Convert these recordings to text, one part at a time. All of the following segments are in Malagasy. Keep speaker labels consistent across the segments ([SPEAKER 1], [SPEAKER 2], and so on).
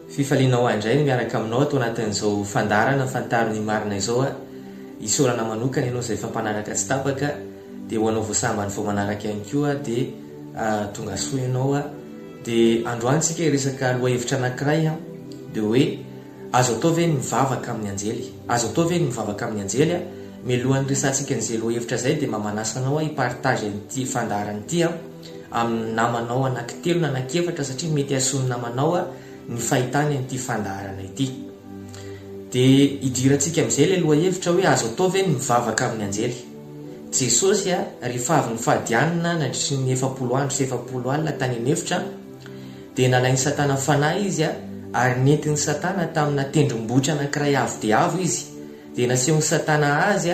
[SPEAKER 1] Fifaliana ho ahy indray ny miaraka aminao ato anatin'izao fandaharana Fantaro ny marina izao a! Isaorana manokana ianao izay efa mpanaraka tsy tapaka dia ho anao voasambany vao manaraka ihany koa dia tongasoa ianao a! Dia androany tsika hiresaka lohahevitra anakiray a! Dia hoe azo atao ve ny mivavaka amin'ny anjely? Azo atao ve ny mivavaka amin'ny anjely a! Mialohan'ny hiresahantsika an'izay lohahevitra izay dia mba manasa anao a hi-partage an'ity fandaharana ity a! amin'ny namanao anankitelo na anankiefatra satria mety hahasoa ny namanao ny fahitany an'ity fandaharana ity. Dia idirantsika amin'izay ilay lohahevitra hoe azo atao ve ny mivavaka amin'ny anjely? Jesosy rehefa avy nifady hanina nandritry ny efapolo andro sy efapolo alina tany an'efitra dia nalain'i Satana fanahy izy ary nentin'i Satana tamina tendrombohitra anankiray avo dia avo izy dia nasehon'i Satana azy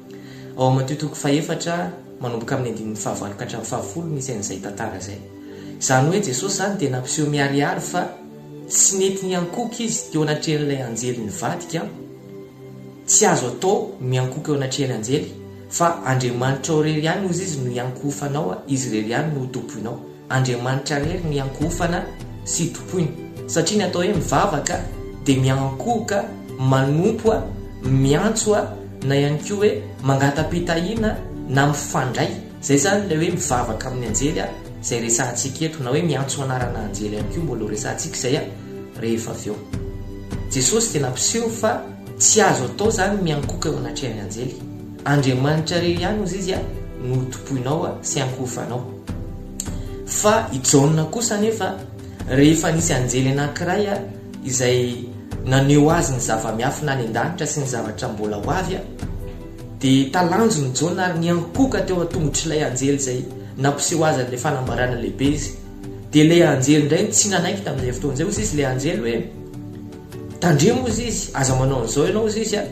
[SPEAKER 1] Ao am Matio toko fahefatra manomboka amin'ny andininy fahavalo ka hatramin'ny fahafolo misy an'izay tantara izay. Izany hoe Jesosy izany dia nampiseho miharihary fa tsy nety niankohoka izy teo anatrehan'ilay anjely nivadika, tsy azo atao miankohoka eo anatrehan'ny anjely, fa Andriamanitrao irery ihany hozy izy no hiankohofanao, izy irery ihany no ho tompoinao. Andriamanitra irery ny hiankohofana sy hitompoina, satria ny atao hoe mivavaka dia miankohoka, manompo, miantso na ihany koa hoe mangata-pitahiana na mifandray, izay izany ilay hoe mivavaka amin'ny anjely izay resahantsika eto, na hoe miantso anarana anjely ihany koa mbola ho resahantsika izay rehefa avy eo. Jesosy dia nampiseho fa tsy azo atao izany ny miankohoka eo anatrehan'ny anjely. Andriamanitra re ihany ozy izy no ho tompoinao sy ankohofanao. Fa i Jaona kosa anefa, rehefa nisy anjely anankiray izay naneho azy ny zava-miafina any an-danitra sy ny zavatra mbola ho avy, dia talanjony Jaona ary niankohoka teo an-tongotr'ilay anjely izay nampiseho azy an'ilay fanambarana lehibe izy. Dia ilay anjely indray no tsy nanaiky tamin'izay fotoana izay, ozy izy ilay anjely hoe. Tandremo ozy izy, aza manao an'izao ianao ozy izy a!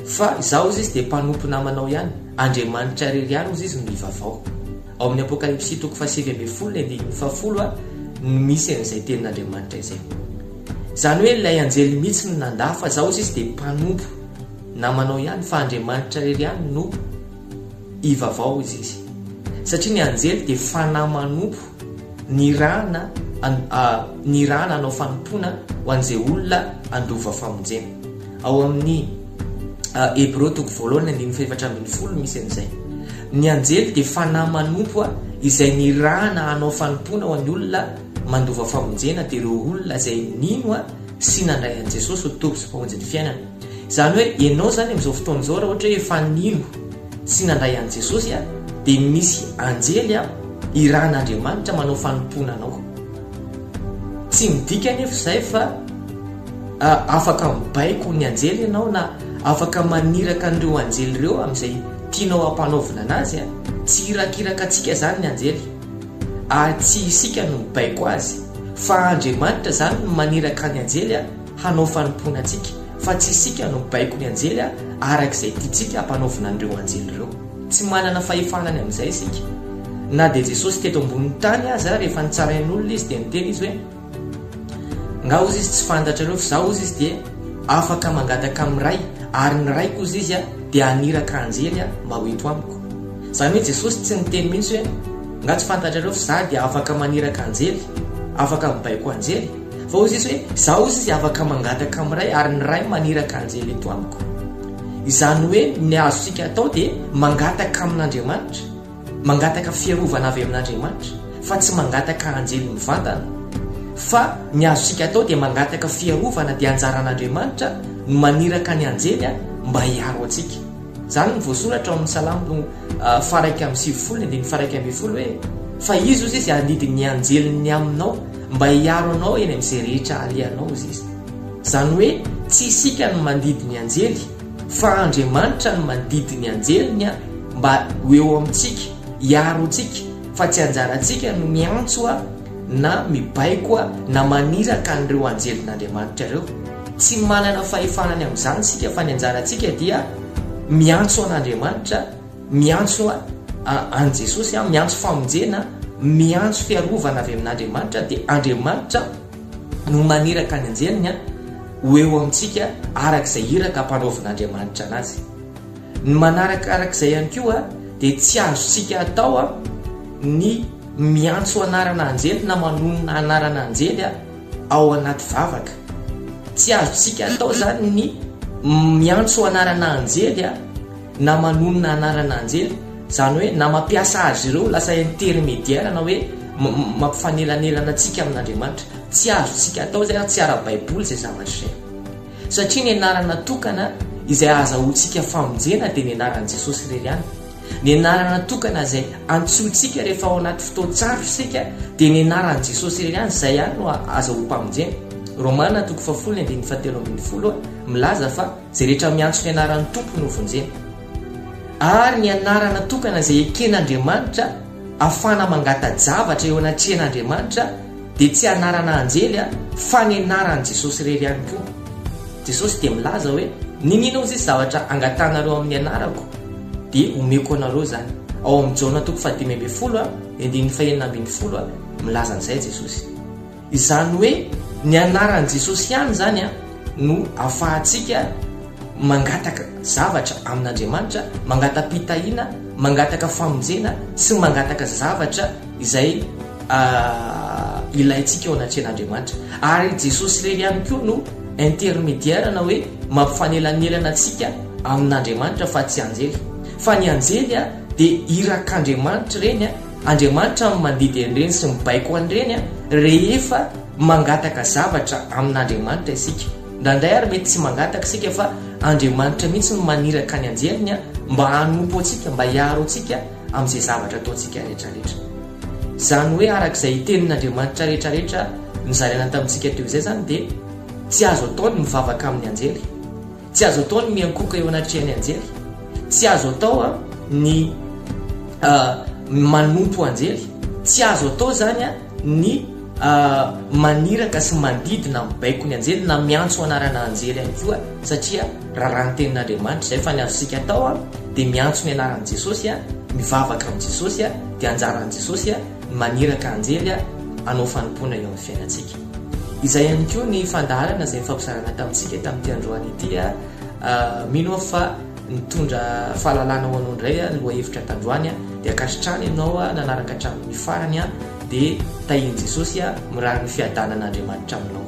[SPEAKER 1] fa izaho ozy izy dia mpanompo namanao ihany, Andriamanitra irery ihany ozy izy no ivavao. Ao amin'ny Apokalypsy toko fahasivy ambin'ny folo ny andininy fahafolo a no misy an'izay tenin'Andriamanitra izay. Izany hoe ilay anjely mihitsy no nandà fa izaho ozy izy dia mpanompo namanao ihany fa Andriamanitra irery ihany no Hivavao hoy Jesy, satria ny anjely dia fanahy manompo nirahana nirahana hanao fanompoana ho an'izay olona handova famonjena. Ao amin'ny Hebreo toko voalohany andininy fahefatra ambin'ny folo misy an'izay. Ny anjely dia fanahy manompo izay nirahana hanao fanompoana ho an'ny olona mandova famonjena dia ireo olona izay nino sy nandray an'i Jesosy ho Tompo sy Mpamonjy ny fiainana. Izany hoe ianao izany amin'izao fotoana izao raha ohatra hoe efa nino sy nandray an'i Jesosy dia misy anjely irahan'Andriamanitra manao fanompoana anao. Tsy midika anefa izay fa afaka mibaiko ny anjely ianao na afaka maniraka an'ireo anjely ireo amin'izay tianao hampanaovina anazy. Tsy irakiraka antsika izany ny anjely ary tsy isika no mibaiko azy fa Andriamanitra izany no maniraka ny anjely hanao fanompoana antsika fa tsy isika no mibaiko ny anjely araka izay tiantsika hampanaovina an'ireo anjely ireo. Tsy manana fahefana ny amin'izay isika. Na dia Jesosy teto ambonin'ny tany aza, rehefa nitsarain'olona izy dia niteny izy hoe, Ngah ozy izy tsy fantatrareo fa izaho ozy izy dia afaka mangataka amin'ny Ray, ary ny Raiko ozy izy dia haniraka anjely mba ho eto amiko. Izany hoe Jesosy tsy niteny mihitsy hoe, Ngah tsy fantatrareo fa izaho dia afaka maniraka anjely, afaka mibaiko anjely? Fa hoy Jesosy hoe, Izaho hoy Izy afaka mangataka amin'ny Ray ary ny Ray maniraka anjely eto amiko. Izany hoe ny azontsika atao dia mangataka amin'Andriamanitra, mangataka fiarovana avy amin'Andriamanitra fa tsy mangataka anjely mivantana. Fa ny azontsika atao dia mangataka fiarovana dia anjaran'Andriamanitra no maniraka ny anjely mba hiaro antsika. Izany no voasoratra ao amin'ny Salamo faha iraika amby sivifolo ny andininy faha iraika ambin'ny folo hoe, Fa Izy hoy Izy handidy ny anjeliny aminao Mba hiaro anao eny amin'izay rehetra alehanao Izy. Izany hoe tsy isika no mandidy ny anjely fa Andriamanitra no mandidy ny anjeliny mba ho eo amintsika, hiaro antsika fa tsy anjarantsika no miantso na mibaiko na maniraka an'ireo anjelin'Andriamanitra ireo. Tsy manana fahefana ny amin'izany isika fa ny anjarantsika dia miantso an'Andriamanitra, Miantso an'i Jesosy aho, miantso famonjena, miantso fiarovana avy amin'Andriamanitra, dia Andriamanitra no maniraka ny anjeliny ho eo amintsika araka izay iraka ampanaovin'Andriamanitra anazy. Ny manaraka araka izay ihany koa dia tsy azontsika atao ny miantso anarana anjely na manonona anarana anjely ao anaty vavaka. Tsy azontsika atao izany ny miantso anarana anjely. na manonona anarana anjely, izany hoe na mampiasa azy ireo ho lasa intermédiaire na hoe mampifanelanelana antsika amin'Andriamanitra. Tsy azontsika atao izay ary tsy ara-baiboly izay zavatra izay. Satria ny anarana tokana izay ahazahoantsika famonjena dia ny anaran'i Jesosy irery ihany. Ny anarana tokana izay antsointsika rehefa ao anaty fotoan-tsarotra isika dia ny anaran'i Jesosy irery ihany, izay ihany no ahazahoam-pamonjena. Romana toko fahafolo ny andininy fahatelo ambin'ny folo milaza fa. Izay rehetra miantso ny anaran'ny Tompo no vonjena. Ary ny anarana tokana izay eken'Andriamanitra afahana mangata-javatra eo anatrehan'Andriamanitra dia tsy anarana anjely fa ny anaran'i Jesosy irery ihany koa. Jesosy dia milaza hoe, N'inona ozizy zavatra angatanareo amin'ny anarako dia homeko anareo izany. Ao amin'ny Jaona toko fahadimy ambin'ny folo, ny andininy fahenina ambin'ny folo milaza an'izay Jesosy. Izany hoe ny anaran'i Jesosy ihany izany no afahantsika mangataka zavatra amin'Andriamanitra, mangata-pitahiana, mangataka famonjena sy mangataka zavatra izay ilaintsika eo anatrehan'Andriamanitra. Ary Jesosy irery ihany koa no intermédiaire na hoe mampifanelanelana antsika amin'Andriamanitra fa tsy anjely. Fa ny anjely dia irak'Andriamanitra ireny. Andriamanitra no mandidy an'ireny sy mibaiko an'ireny rehefa mangataka zavatra amin'Andriamanitra isika. Indraindray ary mety tsy mangataka isika fa Andriamanitra mihitsy no maniraka ny anjeliny mba hanompo antsika, mba hiaro antsika amin'izay zavatra ataontsika rehetrarehetra. Izany hoe araka izay hitenin'Andriamanitra rehetrarehetra nozaraina tamintsika teo izay izany dia tsy azo atao ny mivavaka amin'ny anjely. Tsy azo atao ny miankohoka eo anatrehan'ny anjely, tsy azo atao a ny a manompo anjely, tsy azo atao zany a ny a maniraka sy mandidy na mibaiko ny anjely na miantso anarana anjely ihany koa satria raràn'ny tenin'Andriamanitra izay fa ny azontsika atao a dia miantso ny anaran'i Jesosy a mivavaka amin'i Jesosy a dia anjaran'i Jesosy a ny maniraka anjely a hanao fanompoana eo amin'ny fiainantsika. Izay ihany koa ny fandaharana izay nifampizarana tamintsika tamin'ity androany ity. Mino aho fa nitondra fahalalana ho anao indray ny lohahevitra tandroany. Dia ankasitrahana ianao nanaraka hatramin'ny farany dia tahian'i Jesosy mirary ny fiadanan'Andriamanitra aminao.